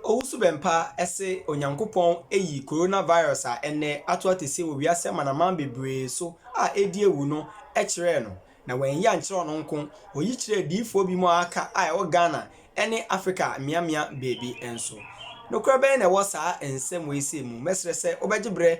Owusu-Bempah se Onyankopɔn ayi coronavirus a ɛnnɛ ato ateseɛ wɔ wiase amanaman bebree so a ɛredi awu no kyerɛɛ no, na wanyi ankyerɛ ɔno nko, ɔyi kyerɛɛ diyifoɔ binom a aka a ɛwɔ Ghana ne Afrika mmeammea baabi nso. Nokorɛ bɛn na ɛwɔ saa nsɛm wei sei mu? Mɛsrɛ sɛ wobɛgye berɛ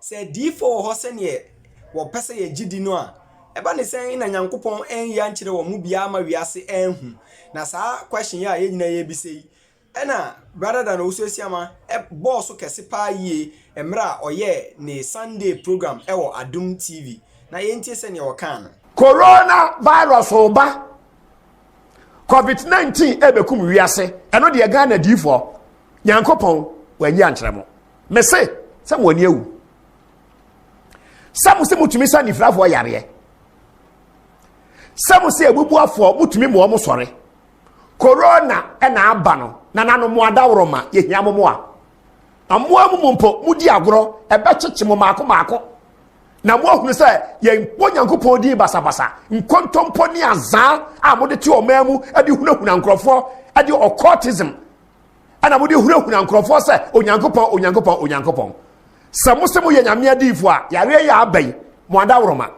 Sɛ adiyifoɔ wɔ hɔ sɛdeɛ wɔpɛ sɛ yɛgye di no a, ɛba ne sɛn na Nyankopɔn anyi ankyerɛ wɔn mu biara ama wiase anhu? Na saa question yi a yɛn nyinaa yɛrebisa yi, ɛna Brother Dan Owusu-Asiamah bɔɔ so kɛse paa yie mmerɛ a ɔyɛɛ ne Sunday program wɔ Adom TV. Na yɛntie sɛdeɛ ɔkaa no. Corona virus reba, covid 19 ɛrebɛkum wiase, ɛno deɛ Ghana adiyifoɔ, Nyankopɔn wanyi ankyerɛ mo. mese sɛ mo ani awu sɛ mo sɛ motumi sa nifirafoɔ yareɛ sɛ mo sɛ abubuafoɔ motumi mmoa mo sɔre korona ɛna aba no na nano mo adaworo ma yɛhia mo mo a mmoa mu mu mpo modi agorɔ ɛbɛkyekye mo maako maako na mo ahunu sɛ yɛnkɔ nyankopɔn din basabasa nkɔntɔmpɔ ne azaa a mode te ɔmaa mu de hunahuna nkurɔfoɔ de ɔkɔtism ɛna mode hunahuna nkurɔfoɔ sɛ onyankopɔn onyankopɔn onyankopɔn sɛ mo sɛ moyɛ nyame adiifoɔ a yareɛ yɛ aba yi mo adaworoma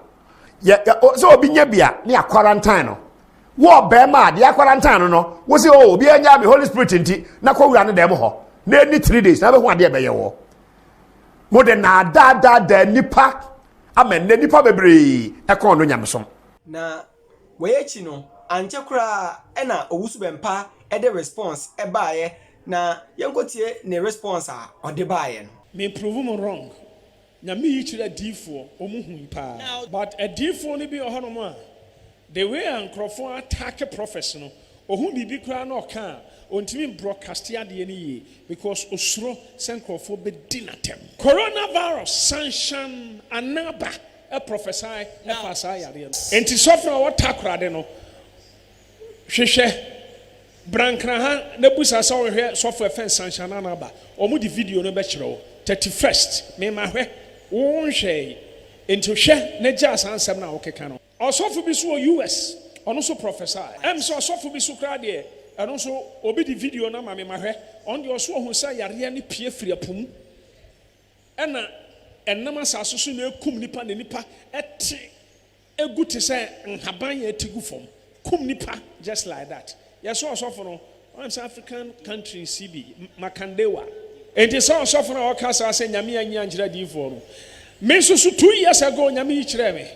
sɛ obi nya bi a ne akwarantan no wɔ bɛrima a deɛ akwarantan no no wo sɛ o oh, obiara nya me holy spirit nti na kɔwura no dɛm hɔ na ɛni three days na bɛhu adeɛ bɛyɛ wɔ mode naadaadaadaa nnipa ama nnɛ nnipa bebree ɛkɔn no nyamesom na Wei akyi no, ankyɛ koraa na Owusu Bɛmpa de response baeɛ na yɛnkɔtie ne response a ɔde baeɛ no. Me prove mo wrong. Nyame yi kyerɛ adiifoɔ, wɔn hui paa. But adiifoɔ no bi wɔ hɔ nom a, the way a nkorɔfoɔ attack prophets no, ɔhu biribi koraa na ɔka a, ɔntumi mbroadcast adeɛ no yie because ɔsuro sɛ nkorɔfoɔ bɛdi no atɛm. Coronavirus sansan anaa ba? prɔfɛsae faa saa yareɛ no. Enti sɔfo a ɔtakorade no hwehwɛ brankraha na bisa sɛ ɔnhwɛ sɔfo ɛfɛ nsanhyɛ no ana aba. Wɔn de video no bɛkyerɛ wo. Thirty first, Me ma hwɛ, wo nhwɛɛe, enti hwɛ na gyaa saa nsɛm no a wokeka no. Ɔsɔfo bi nso wɔ US, ɔno nso prɔfɛsae. Ɛm sɛ ɔsɔfo bi nso koraa deɛ, ɛno nso obi de video no ama me ma hwɛ, ɔno deɛ ɔse ɔhunu sɛ yareɛ no pue firi ɛpo mu. Ɛna ɛnam asase so na ɛkum nnipa na nnipa te gu te sɛ nhaban a ɛte gu fam kum nnipa just like that. Yɛ sɛ ɔsɔfo no ɔnam sɛ African country si bi Makandewa. Enti sɛ ɔsɔfo no a ɔka saa sɛ Nyame anyi ankyerɛ adiyifoɔ no, me nso so two years ago Nyame yi kyerɛɛ me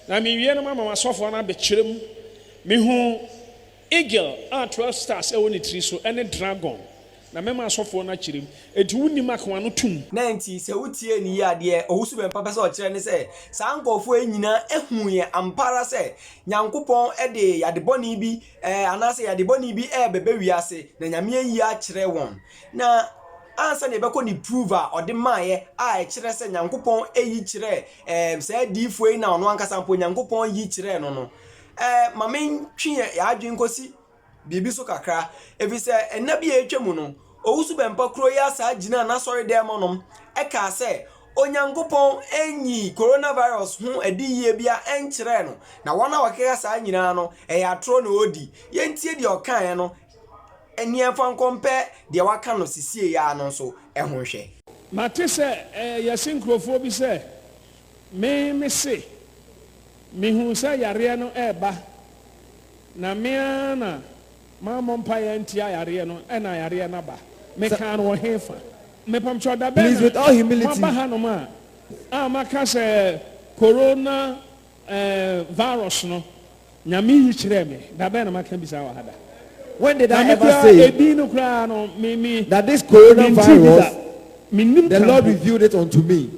na me wie no mama m'asɔfoɔ no abɛkyerɛ mu mehu Eagle a twelve stars wɔ ne tiri so ne dragon na mɛma asɔfoɔ no akyerɛ mu, enti wonim akoa no tum. Dɛn nti? Sɛ wotie no yie a, deɛ owusu bɛmpa pɛ sɛ ɔkyerɛ ne sɛ, saa nkurɔfoɔ yi nyinaa huiɛ ampa ara sɛ Nyankopɔn de yade bɔne bi anaa sɛ yade bɔne bi rebɛba wiase, na Nyame ayi akyerɛ wɔn. Na ansa na yɛbɛkɔ ne proof a ɔde maeɛ a ɛkyerɛ sɛ Nyankopɔn yi kyerɛɛ saa adiyifoɔ yi na ɔno ankasa mpo Nyankopɔn yi kyerɛɛ no no, Eh, ma mentwe yɛn yɛn adwene nkɔsi biribi so kakra, ɛfiri sɛ nna bi a atwa mu no, Owusu Bɛmpa kuro yi asaa gyinaa n'asɔredɛm hɔnom kaa sɛ Onyankopɔn nnyii coronavirus ho adiyie biara nkyerɛɛ no, na wɔn a wɔkeka saa nyinaa no, ɛyɛ atorɔ na wɔredi. Yɛntie deɛ ɔkaeɛ no ne yɛmfa nkɔmpɛ deɛ wɔaka no sesieɛ ara no nso ho nhwɛ. Mate sɛ eh, yɛse nkurɔfoɔ bi sɛ Me me se, mehuu sɛ yareɛ no reba na me ara na mammɔ mpaeɛ antia yareɛ no ɛna yareɛ no aba. Mekaa no wɔ he fa? Mepamkyɛw da bɛn na moaba hanom a a maka sɛ Corona eh, virus no? Nyame yi kyerɛɛ me. Da bɛn na maka bi saa wɔ ha da? When did I ever say that this coronavirus, the Lord revealed it unto me?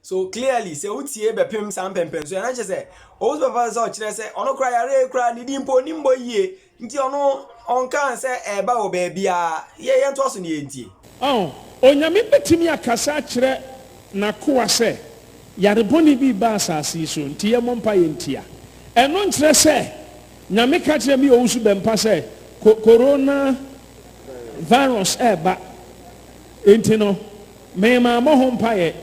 So clearly, sɛ wotie bɛpem saa mpɛmpɛnso yɛ na kyerɛ sɛ ɔwɔ sɛ bɛfa sɛ ɔkyerɛ sɛ ɔno kora yare kora ne din mpo ɔnim bɔ yie Nti ɔno ɔnkaa sɛ ɛreba wɔ baabiara. Yɛ yɛntoa so na yɛntie. Ɔn, Onyame bɛtumi akasa akyerɛ N'akoa sɛ, Yare bɔne bi reba asase yi so, nti yɛmmɔ mpaeɛ ntia. Ɛno nkyerɛ sɛ Nyame ka kyerɛ me Owusu Bɛmpa sɛ ko, Corona Virus reba, nti no memaa mmɔ ho mpaeɛ.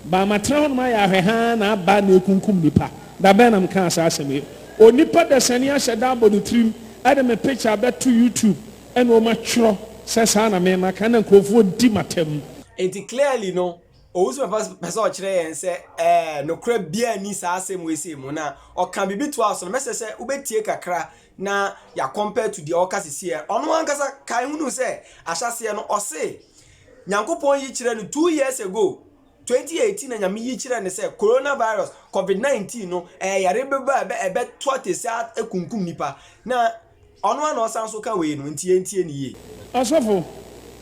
Ba, matena hɔnom ayɛ ahwɛhaa na aba na ekunkum nnipa. Da bɛn na mekaa saa asɛm yi? Onipa dasani ahyɛ da abɔ ne tirim de me picture abɛto YouTube na wɔatwerɛ sɛ saa na me maka na nkurɔfoɔ di m'atam. Enti clearly no, Owusu-Papa pɛ sɛ ɔkyerɛ yɛn sɛ ɛɛ, nokorɛ biara nni saa asɛm weisei mu. Na ɔka biribi toaa so no, mɛsɛ sɛ wobɛtie kakra na ya compare to deɛ ɔka sisi ɛ ɔno ankasa kae hunu sɛ ahyɛseɛ no ɔse nyankopɔn yi kyerɛ no two years ago 2018 na nyame yi kyerɛ no sɛ coronavirus covid 19 no ɛyɛ yare bɛba ɛbɛ ɛbɛ to atese akunkum nipa na ɔno ana ɔsan so ka wei no nti yɛn tie ne yie. Ɔsɔfo,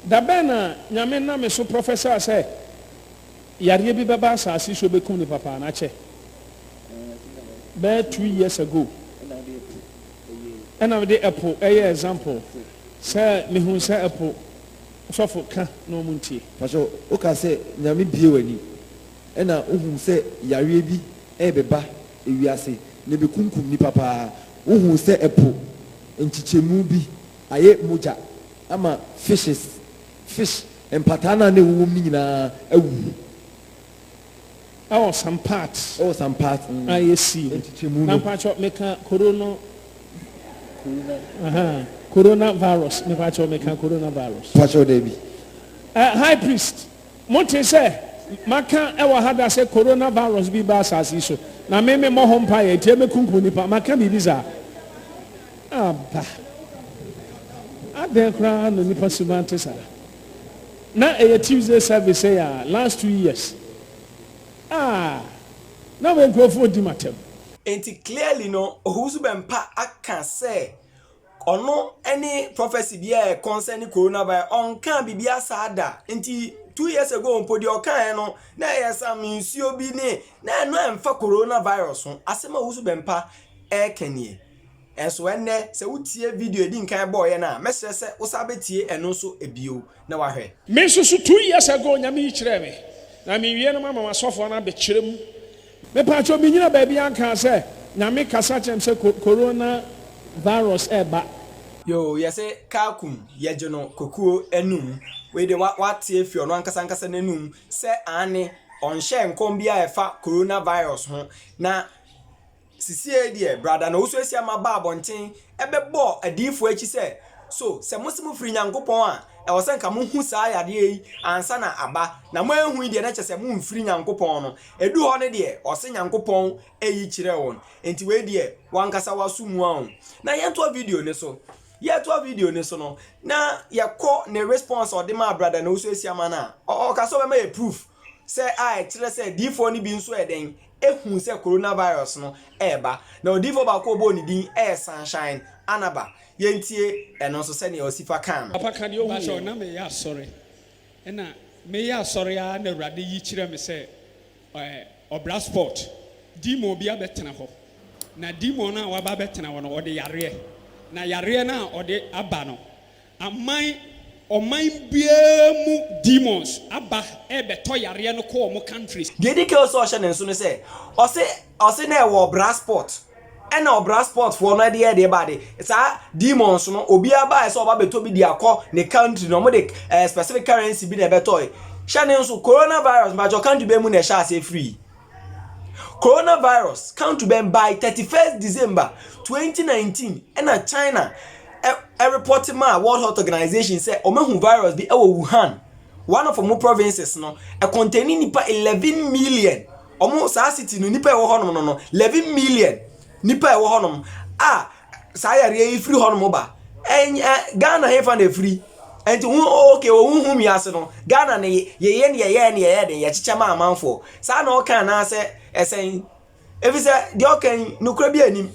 da bɛn na Nyame nam me so prɔfɛsaa sɛ Yareɛ bi bɛba asaase so bɛkum no papa na kyɛ bɛyɛ two years ago ɛna mede ɛpo ɛyɛ example sɛ mehu sɛ ɛpo sɔfo ka na ɔmo ntie. Pastor woka sɛ nyame bie w'ani ɛna wohum sɛ yareɛ bi ɛɛbɛba ewiase na ɛbɛkumkum nipa paa wohuu sɛ ɛpo nkyekyɛmu bi ayɛ mogya ama fishes Fish mpataa no a na ɛwowom no nyinaa awuwu. Ɛwɔ some parts. Ɛwɔ some parts. Mm. A yɛ sii no. Nkyekyɛmu no. Na mpatsɔ meka koro no. Corona. Aha. Corona virus. Mepatsɔ meka corona virus. Patsɔ dɛ bi. Uh, high priest, mo te sɛ maka ɛwɔ ha da sɛ corona virus bi ba asase so na me me mmɔ ho mpa yɛ nti ɛmɛkunkum nipa maka biribi saa. aba. Adɛn koraa na nnipa suban te saa? Na ɛyɛ Tuesday service sɛ yɛ a last two years. Ah, na me nkurɔfoɔ redi m'atam. Enti clearly no Owusu Bɛmpa aka sɛ ɔno ne prophecy biara a ɛconcerni coronavirus, ɔnkaa biribiara saa da. Nti two years ago mpo deɛ ɔkaeɛ no na ɛyɛ some nsuo bi ne, na ɛno ɛmfa coronavirus ho. Asɛm a Owusu Bɛmpa ɛreka nie. Nanso ɛnnɛ, sɛ wutie video a edi nkan yɛbɔe no a, mɛsrɛ sɛ wosan betie ɛno nso bio na woahwɛ. Me nso so two years ago onyame yi kyerɛɛ me na me wie no mama masɔfoɔ no abɛkyerɛ mu. Me paatwɔ me nyina baabi ankaa sɛ nyame kasa kyerɛ me sɛ corona virus ɛɛba. Yoo yɛse car kum yɛgye no kokuo anum wei de wate afiri ɔno ankasa ankasa nanum sɛ aane ɔnhyɛɛ nkɔm biaa ɛfa corona virus ho na Sisiei deɛ, brada na wosuasua ma baa abɔnten bɛbɔɔ adiyifoɔ akyi sɛ, So sɛ mose mofiri Nyankopɔn a, ɛwɔ sɛ anka mohu saa yadeɛ yi ansa na aba, na moanhu yi deɛ na kyerɛ sɛ momfiri Nyankopɔn no? Ɛduu hɔ no deɛ, ɔse Nyankopɔn yi kyerɛɛ wɔn. Enti wei deɛ, w'ankasa w'aso mua wo. Na yɛntoa video no so. Yɛretoa video no so no, na yɛkɔ ne response a ɔde maa brada na wosuasua ma no a, ɔka sɛ ɔbɛma yɛ proof sɛ a ɛkyerɛ sɛ adiyifoɔ no bi nso yɛ dɛn? hui sɛ coronavirus no reba, na odiyifoɔ baako a wɔbɔɔ ne din yɛ Sunshine Anaba. Yɛntie ɛno nso sɛdeɛ Osifa kaa no. Papa ka deɛ ɔhuiɛ no. Mpakyɛw, na mereyɛ asɔre, ɛna mereyɛ asɔre ara na Awurade yi kyerɛɛ me sɛ ɛɛ ɔbra spot, demon bi abɛtena hɔ, na demon no a waba abɛtena hɔ no, ɔde yareɛ, na yareɛ no a ɔde aba no, Aman ɔman biara mu demons aba rebɛtɔ yareɛ no kɔ wɔn countries. Deɛ ɛdi kan sɛ ɔhyɛ ne nso ne sɛ ɔse ɔse na ɛwɔ ɔbra spot ɛna ɔbra spot foɔ no ɛde ɛde ba de saa demons no obiara baɛ sɛ ɔba bɛtɔ bi de akɔ ne country na ɔmo de ɛɛ specific currency bi na ɛbɛtɔɛ hyɛ ne nso corona virus mpakyɛw country bɛɛ mu na ɛhyɛ aseɛ firii. Coronavirus kan to bɛn by thirty first December twenty nineteen ɛna China ɛrepɔte maa World Health Organization sɛ wɔahu virus bi wɔ Wuhan, one of wɔn provinces no, ɛkɔntɛɛne nnipa eleven million, wɔn saa city no nnipa a ɛwɔ hɔnom no no eleven million nnipa a ɛwɔ hɔnom a saa yareɛ yi firi hɔnom ba ɛnyɛ ghana hefa na ɛfiri nti ho ok ɔhu hu wiase no ghana no yɛyɛ ne yɛyɛ ne yɛyɛ den yɛkyekyɛ ma amanfoɔ saa na ɔka anaasɛ ɛsɛn ɛfiri sɛ deɛ ɔka yi nokorɛ bi anim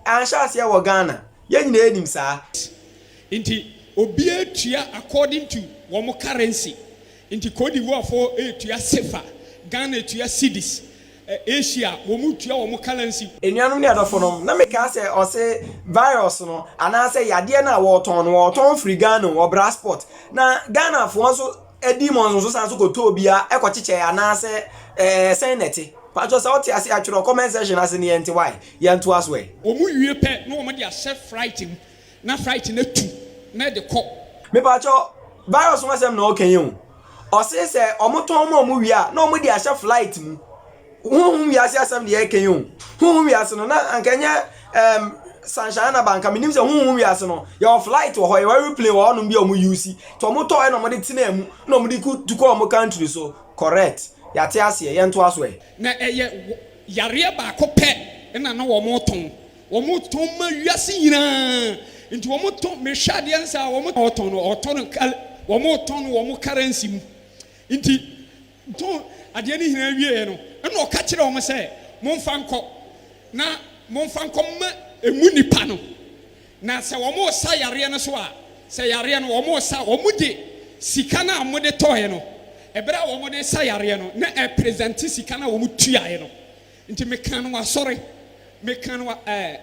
anhyɛ aseɛ wɔ ghana yɛn nyinaa anim saa nti obiara tua according to wɔn currency Nti Côte d'Ivoire fo retua sefa, Ghana retua cedis, Asia wɔn retua wɔn currency. Anuanom ne adɔfo nom, na me kaa sɛ ɔse virus no anaa sɛ yadeɛ no a wɔɔtɔn no wɔɔtɔn firi Ghana o, wɔ Brasport, na Ghana foɔ nso dii mo nsonso san nso kɔ tɔɔ bi a kɔ kyekyɛɛ anaa sɛ ɛɛ sɛn na ɛte? Mpakyɛw sɛ wote aseɛ a twerɛ comment section ase ne yɛnte wai, yɛntoa so ɛ. Wɔn wie pɛ na wɔn de ahyɛ flight mu Na flight no atu na ɛde kɔ. Mepakyɛ virus ho asɛm na ɔka yi o ɔse sɛ ɔmo tɔn ma ɔmo wie a na ɔmo de ahyɛ flight mu honhom wiase asɛm deɛ ɛka yi o honhom wiase no na anka nyɛ um, sunshine na banka menim sɛ honhom wiase no yɛwɔ flight wɔ hɔ yɛwɔ aeroplane wɔ hɔnom bi a ɔmo use nti ɔmo tɔ ɛna ɔmo de tenaa mu na ɔmo de tu kɔ ɔmo country so correct yɛate aseɛ yɛntoa so ɛ. Na ɛyɛ yareɛ baako pɛ na na wɔn tɔn. Wɔtɔn ma wiase nyinaa nti wɔtɔn mehwɛ adeɛ nsa a wɔn ɔtɔn no ɔtɔn no kal wɔn tɔn no wɔn currency mu nti tɔn adeɛ no nyinaa wie yɛ no ɛna ɔka kyerɛ wɔn sɛ mo nfa nkɔ na mo nfa nkɔ ma emu nipa no na sɛ wɔn resa yareɛ no so a sɛ yareɛ no wɔn resa wɔn de sika no a wɔn de tɔɔɛ no ɛbɛrɛ a wɔn de sa yareɛ no na ɛpresente sika no a wɔn tuaɛ no Nti mekaa no wɔ asɔre, mekaa no wɔ ɛɛ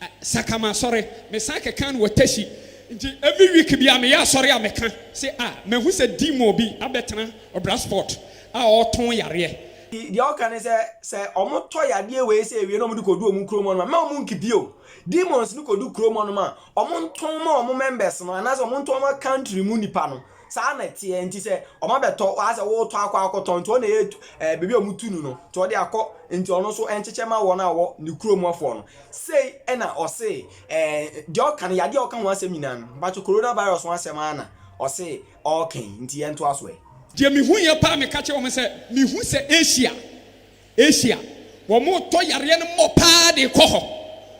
ɛ Sakama asɔre, mesan kɛkaa no wɔ Teshie. Nti every week biara meyɛ asɔre a meka se a mahu sɛ demon bi abɛtena Ɔbrasport a ɔɔtɔn yareɛ. Deɛ ɔka ne sɛ, sɛ ɔmo tɔ yadeɛ wei sei wie na ɔmo de kɔdu ɔmo kurom hɔnom a, mma ɔmo nki bio. Demons no kɔdu kurom hɔnom a, ɔmo ntɔn ma ɔmo members no anaasɛ ɔmo ntɔn ma country mu nnipa no. Saa na ɛteɛ nti sɛ ɔma bɛtɔ ɔha sɛ wotɔ akɔ akɔtɔn nti ɔna ɛyɛ ɛɛ beebi a ɔmo tu no no nti ɔde akɔ nti ɔno nso ɛnkyekyɛ ma wɔn a wɔ ne kuro mu foɔ no sei ɛna ɔsee ɛɛ deɛ ɔka no yadeɛ a ɔka ho asɛm nyinaa no mpakyɛ corona virus ho asɛm ara na ɔsee ɔɔka yi nti yɛntoa so ɛ. Deɛ mehuiɛ paa meka kyerɛ wɔn sɛ mehu sɛ Asia Asia, wɔretɔ yareɛ no mmɔ pa ara de rekɔ hɔ.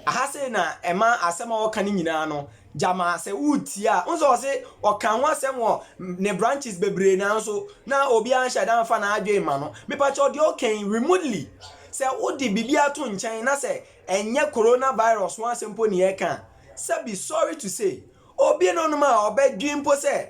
Aha sei na ɛma asɛm a ɔreka no nyinaa no, gyama sɛ woretie a, wohu sɛ ɔse ɔka ho asɛm wɔ ne branches bebree nanso na obiara nhyɛ da mfa n'adwene mma no. Mepakyɛw, deɛ ɔka yi, remotely, sɛ wode biribi ato nkyɛn na sɛ ɛnyɛ coronavirus ho asɛm mpo na yɛreka a, sɛbi, sorry to say, obinom a ɔbɛdwen mpo sɛ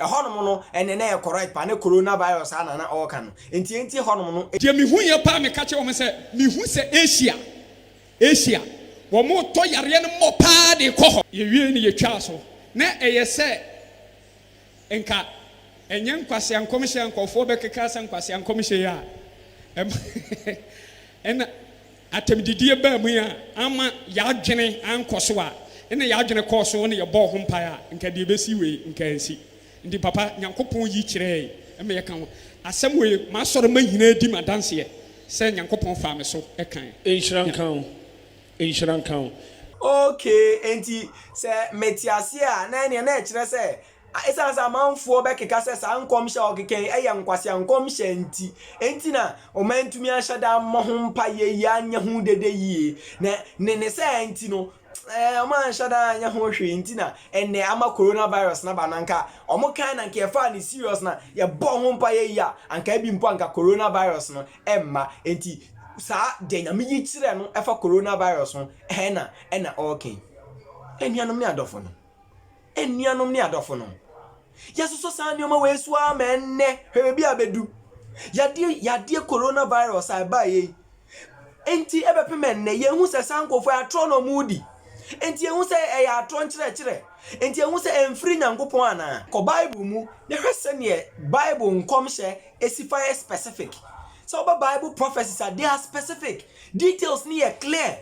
Ɛhɔnom no ɛnɛ na ɛyɛ correct paa ne corona virus a na na ɔɔka no nti enti ɛhɔnom no. Deɛ mehuiɛ paa meka kyerɛɛ wɔn sɛ mehu sɛ Asia Asia wɔn retɔ yareɛ no mmɔ paa de rekɔ hɔ. Yɛwiee no yɛtwaa so na ɛyɛ sɛ nka ɛnyɛ nkwasea nkɔmhyɛ a nkurɔfoɔ bɛkeka sɛ nkwasea nkɔmhyɛ yi a ɛma ɛna. Atɛmdidie baa mu yi a amma y'adwene ankɔ so a nna y'adwene kɔɔ so na yɛbɔɔ ho mpaeɛ a nka deɛ ɛbɛsi wei nka ansi. Nti papa Nyankopɔn yi kyerɛɛe ma yɛka ho asɛm wei m'asɔre ma nyinaa di m'adanseɛ sɛ Nyankopɔn faa me so kae. Nhyira nka wo. Nhyira nka wo. Okay, enti sɛ mete aseɛ a na ɛneɛ na ɛkyerɛ sɛ A Esiane sɛ amanfoɔ bɛkeka sɛ saa nkɔmhyɛ a wɔkeka yi yɛ nkwasea nkɔmhyɛ nti, enti na wɔantumi anhyɛ da ammɔ ho mpaeɛ yie anyɛ ho dede yie. Na ne ne saa nti no, wɔanhyɛ da anyɛ ho hwee nti na ɛnnɛ ama coronavirus no aba no. Anka wɔkae na anka yɛfaa no serious na yɛbɔɔ ho mpaeɛ yie a, anka ebi mpo anka coronavirus no mma. Enti saa deɛ Nyame yi kyerɛ no ɛfa coronavirus ho na ɛna ɔreka yi. Anuanom ne adɔfonom. Anuanom ne adɔfonom, yɛasosɔ saa nneɛma wei so ara ma ɛnnɛ, hwɛ baabi a abedu. Yadeɛ yadeɛ coronavirus a ɛbaeɛ yi, enti ɛbɛpem ɛnnɛ, yɛhu sɛ saa nkurɔfoɔ yɛ atorɔ na wɔredi. Enti yɛhu sɛ ɛyɛ atorɔ nkyerɛkyerɛ. Enti yɛhu sɛ ɛmfiri Nyankopɔn anaa? Kɔ Bible mu na hwɛ sɛdeɛ Bible nkɔmhyɛ si fa yɛ specific. Sɛ woba Bible prophecies a, they are specific. Details no yɛ clear.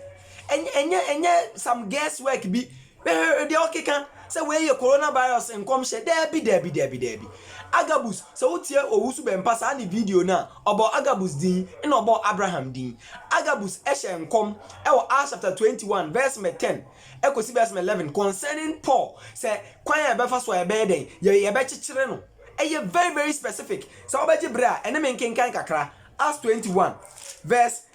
Ɛnyɛ ɛnyɛ ɛnyɛ some guess work bi Hwɛ deɛ ɔkeka sɛ wei yɛ coronavirus nkɔmhyɛ, daabi daabi daabi daabi. Agabus, sɛ wotie owu so bɛmpa saa ne video no a, ɔbɔɔ Agabus din ɛna ɔbɔɔ Abraham din. Agabus hyɛɛ nkɔm wɔ Acts chapter 21 verse number 10 kɔsi verse number 11 concerning Paul sɛ kwan a yɛbɛfa so a yɛbɛyɛ dɛn, yɛ yɛbɛkyekyere no. Ɛyɛ very very specific, sɛ wobɛgye berɛ a ɛne me nkenkan kakra Acts 21 verse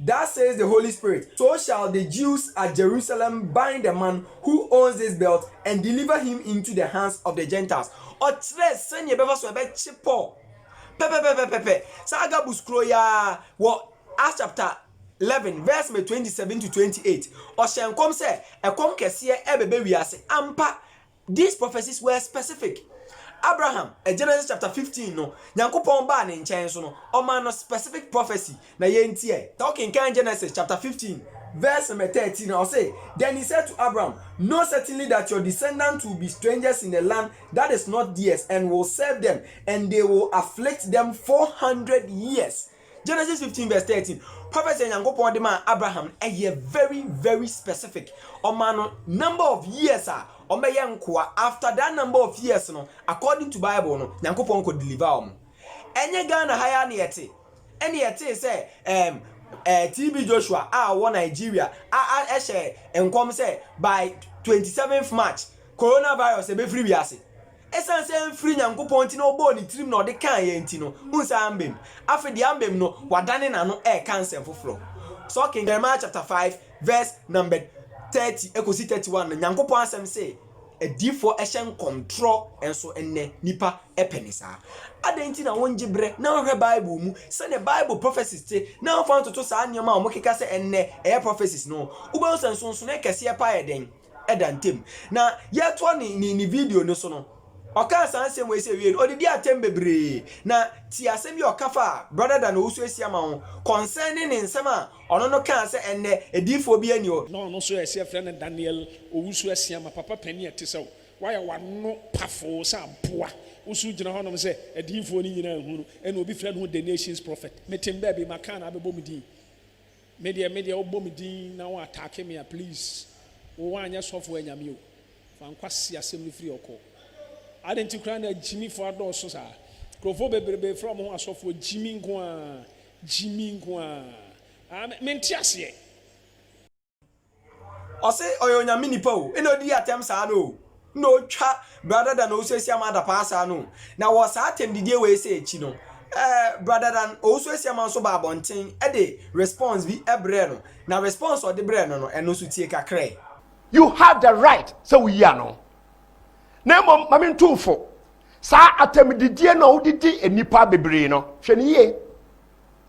Thus says the Holy Spirit, So shall the Jews at Jerusalem bind the man who owns this belt and deliver him into the hands of the Gentiles. Ɔkyerɛɛ sɛnea ɛbɛfa so a ɛbɛkye Paul. Pɛpɛpɛpɛpɛ, saa Agabus kuro yi ara, wɔ Acts chapter eleven verse number twenty-seven to twenty-eight, ɔhyɛɛ nkɔm sɛ ɛkɔm kɛseɛ rebɛba wiase. Ampa, These prophecies were specific. Abraham, Genesis chapter 15 no, Nyankopɔn baa ne nkyɛn so no, ɔmaa no specific prophecy na yɛntiɛ. Tɔ kenkan Genesis chapter 15 verse number 13 a, ɔse, Then he said to Abram, Know certainly that your descendants will be strangers in a land that is not theirs and will serve them and they will afflict them 400 years. Genesis fifteen verse thirteen, prophecy a Nyankopɔn de maa Abraham no, ɛyɛ very very specific. Ɔmaa no number of years a wɔbɛyɛ nkoa, after that number of years no, according to Bible no, Nyankopɔn kɔ deliver wɔn. Ɛnyɛ Ghana ha yi ara na yɛte, ɛna yɛtee sɛ ɛɛm ɛɛ TB Joshua a ɔwɔ Nigeria a a ɛhyɛ nkɔm sɛ by twenty seventh March, coronavirus ɛbɛfiri wiase. Esiane sɛ ɛmfiri Nyankopɔn nti na ɔbɔɔ ne tirim na ɔde kaa yɛn nti no, wonsan ammam. Afei deɛ ammam no, wadane n'ano reka nsɛm foforɔ. Sɛ wokenkan Jeremiah chapter five verse number thirty kɔsi thirty one no, Nyankopɔn asɛm se, Adiyifoɔ hyɛ nkɔmtorɔ nso nnɛ, nnipa pɛ no saa. Adɛn nti na wongye berɛ na wohwɛ Bible mu sɛdeɛ Bible prophecies te na womfa ntoto saa nneɛma a wɔkeka sɛ ɛnnɛ ɛyɛ prophecies no ho? Wobɛhu sɛ nsonsonoeɛ kɛseɛ paa yɛ dɛn? da ntam. Na yɛretoa ne, ne, ne video no so no, ɔkaa saa nsɛm wei sɛ, Wiei no, ɔdedii atɛm bebree. Na tie asɛm bi a ɔka faa Brɔda Dan Owusu-Asiamah ho, concerning ne nsɛm a ɔno no kaa sɛ ɛnnɛ, adiyifoɔ biara nni hɔ. Na ɔno nso yɛ, yɛfrɛ no Daniel Owusu-Asiamah, papa panin a ɛte sɛ wo. Woayɛ w'ano pafoo sɛ aboa. Wo nso wogyina hɔnom sɛ, adiyifoɔ no nyinaa nhu no, ɛnna obi frɛ ne ho The Nations Prophet. Mete me baabi, maka no abɛbɔ me din. Me deɛ me deɛ wobɔ me din na wo attack me a please wo woanyɛ sɔfo anyame o fa nkwa si asɛm no firi ɔkɔ adɛn nti koraa na Jimmy foɔ adɔɔso saa nkurɔfoɔ bebrebe frɛ wɔn ho asɔfoɔ Jimmy nko aa Jimmy nko aa ah me nte aseɛ. Ɔse ɔyɛ onyame nipa o ena odi atem saa no o ena otwa bra dada na ɔwusu asiama adapaa saa no o na wɔ saa atem didie wei sɛ akyi no eh bra dada no ɔwusu asiama nso baa abɔnten de response bi brɛɛ no na response a ɔde brɛɛ no no ɛno nso tie kakrɛ. You have the right sɛ woyi ano na mmom ma me ntu wo fo saa atem didie no a wode di nnipa bebree no hwɛ no yie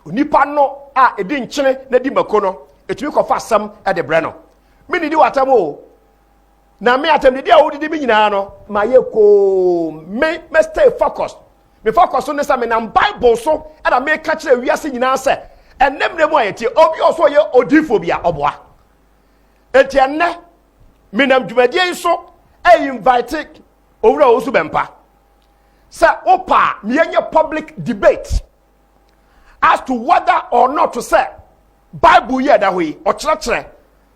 Onipa no a ɛdi nkyene na di mako no, ɛtumi kɔfa asɛm de brɛ no. Mennidi w'atam o, na me atamdidi a wodidi me nyinaa no, mayɛ koo, me me stay focus. Me focus no ne sɛ menam Bible so na meka kyerɛ wiase nyinaa sɛ ɛnɛ mmerɛ mu a yɛtie obi a ɔsɛ ɔyɛ odiifoɔ bi a ɔboa. Enti ɛnnɛ menam dwumadie yi so ɛinvite owura Owusu Bɛmpa sɛ wopa a meyɛnyɛ public debate as to whether or not sɛ bible yi a ɛda hɔ yi ɔkyerɛkyerɛ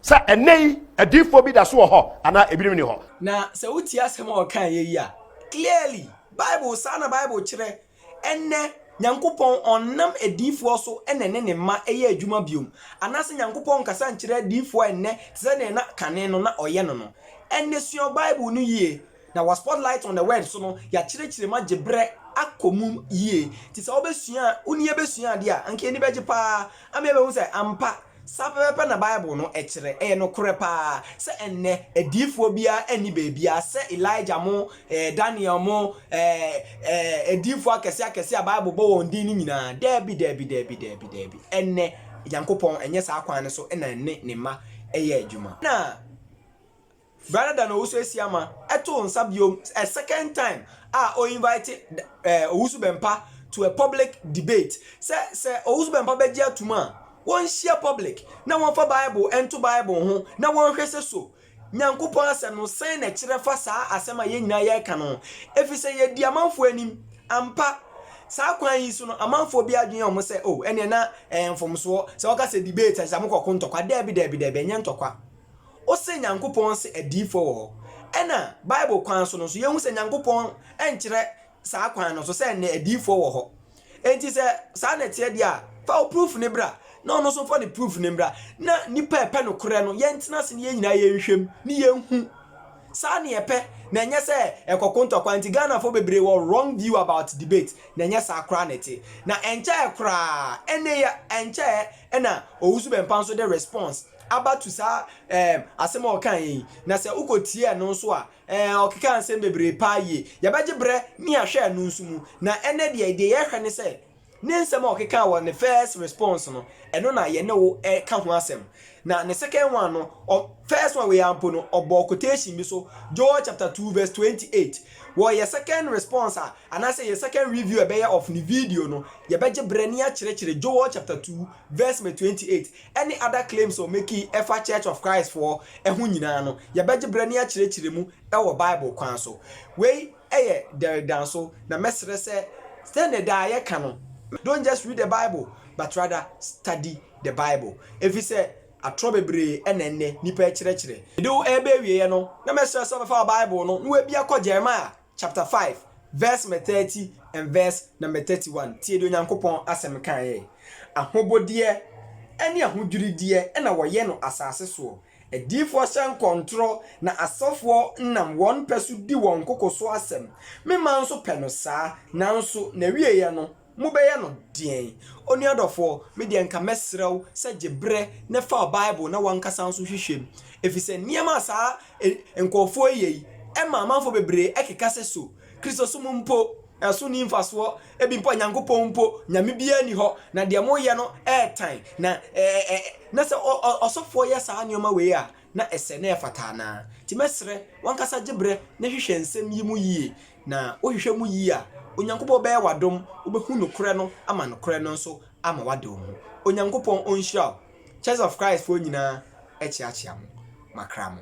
sɛ ɛnɛ yi adiifoɔ bi da so wɔ hɔ anaa ebinom ni hɔ. na sɛ wotie asɛm a ɔkaa yɛ yi a clearly bible saa na bible kyerɛ ɛnɛ nyankopɔn ɔnnam adiifoɔ so na ɛne ne mma ɛyɛ adwuma biom anaasɛ nyankopɔn nkasa nkyerɛ adiifoɔ ɛnɛ te sɛ deɛ na kane no na ɔyɛ no no ɛnne sua bible no yie Na wɔ Spotlight on the Word so no, yɛakyerɛkyerɛ mu agye berɛ akɔ mu yie. Nti sɛ wobɛsua a, wo ne yɛn bɛsua adeɛ a, anka yɛn ani bɛgye pa ara ama yɛabɛhu sɛ ampa, saa pɛpɛɛpɛ na Bible no kyerɛ. Ɛyɛ nokorɛ pa ara sɛ ɛnnɛ, adiyifoɔ biara nni baabiara sɛ Elijah mo, eh, Daniel mo, eh, eh, adiyifoɔ akɛseɛ akɛseɛ a Bible bɔ wɔn din no nyinaa. Daabi, daabi, daabi, daabi, daabi. Ɛnnɛ, Nyankopɔn, ɛnyɛ saa kwan no so na ɛne Ne mma yɛ adwuma. Na. Bra na da n'owusu asi ama ɛtoo nsa biom a second time a o invite Owusu Bɛmpa to a public debate sɛ sɛ Owusu Bɛmpa bɛgye atom a wɔnhyia public na wɔnfa Bible nto Bible ho na wɔnhwɛ sɛ so Nyankopɔn asɛm no sɛn na ɛkyerɛ fa saa asɛm a yɛn nyinaa yɛreka no ho efisɛ yɛadi amanfoɔ anim ampa saa kwan yi so no amanfoɔ bi adwene yɛ wɔn sɛ oh ɛneɛ na ɛyɛ mfomsoɔ sɛ wɔka sɛ debate a kyerɛ sɛ mokɔko ntɔkwa daabi daabi daabi ɛnyɛ ntɔkwa Ose Nyankopɔn se adiyifoɔ wɔ hɔ. Ɛna Bible kwan so no nso, yɛhu sɛ Nyankopɔn nkyerɛ saa kwan no so sɛ nnɛ adiyifoɔ wɔ hɔ. Enti sɛ saa na ɛteɛ deɛ a, fa wo proof no bra, na ɔno nso mfa ne proof no mmra, na nnipa a ɛpɛ nokorɛ no, yɛntena ase na yɛn nyinaa yɛnhwɛ mu, na yɛnhu. Saa na yɛpɛ, na ɛnyɛ sɛ ɛkɔko ntɔkwa. Nti Ghanafoɔ bebree wɔ wrong view about debate, na ɛnyɛ saa koraa na ɛte. Na ɛnkyɛɛ koraa, ɛnne yi a, ɛnkyɛɛ na Owusu-Bempah nso de response. aba to saa ɛɛm asɛm a ɔkaa yɛ yi, na sɛ wokɔtie ɛno nso a, ɛɛm ɔkekaa nsɛm bebree paa yie. Yɛbɛgye berɛ ne yɛahwɛ ɛno nso mu. Na ɛnnɛ deɛ, deɛ yɛhwɛ ne sɛ, ne nsɛm a ɔkekaa wɔ ne first response no, ɛno na yɛne wo reka ho asɛm. Na ne second one no, ɔ, first one wei ara mpo no, ɔbɔɔ quotation bi so, Joel chapter two verse twenty eight. Wɔ yɛ second response a, anaasɛ yɛ second review a yɛbɛyɛ of ne video no, yɛbɛgye berɛ ne yɛakyerɛkyerɛ Joel chapter two verse me twenty eight, ɛne other claims ɔ makii ɛfa Church of Christ foɔ ho nyinaa no, yɛbɛgye berɛ ne akyerɛkyerɛ mu wɔ Bible kwan so. Wei yɛ Derek Danso, na mɛsrɛ sɛ sɛdeɛ daa yɛka no, don't just read the Bible, but rather study the Bible, ɛfiri sɛ atorɔ bebree na ɛnnɛ nnipa ɛkyerɛkyerɛ. Mede wo ɛreba awieɛ no, na mɛsrɛ sɛ wobɛfa wo Bible no na wabia kɔ Jeremiah. chapter five verse mɛ thirty and verse number thirty one, tie deɛ Onyankopɔn Asɛm kaeɛ, Ahobodeɛ ne ahodwirideɛ na wɔyɛ no asase soɔ, adiyifoɔ hyɛ nkɔntorɔ na asɔfoɔ nam wɔn pɛ so di wɔn koko so asɛm, me man nso pɛ no saa, nanso n'awieeɛ no, Mobɛyɛ no deɛn? Onua dɔfoɔ, me deɛ nka mɛsrɛ wo sɛ gye berɛ na fa Bible na w'ankasa nso hwehwɛ mu, ɛfiri sɛ nneɛma a saa nkorɔfoɔ yi yɛ yi ma amanfoɔ bebree keka sɛ so Kristosom mpo so nni mfasoɔ, ebi mpo a Nyankopɔn mpo, Nyame biara nni hɔ, na deɛ moyɛ no ɛretan, na na sɛ ɔsɔfoɔ yɛ saa nneɛma wei a na ɛsɛ na ɛfata anaa? Nti mɛsrɛ w'ankasa gye berɛ na hwehwɛ nsɛm yi mu yie Na wohwehwɛ mu yie a, Onyankopɔn bɛyɛ wo adom, wobɛhu nokorɛ no ama nokorɛ no nso ama woade wo ho. Onyankopɔn ɔnhyira wo. Church of Christ foɔ nyinaa kyeakyea mo. Makra mo.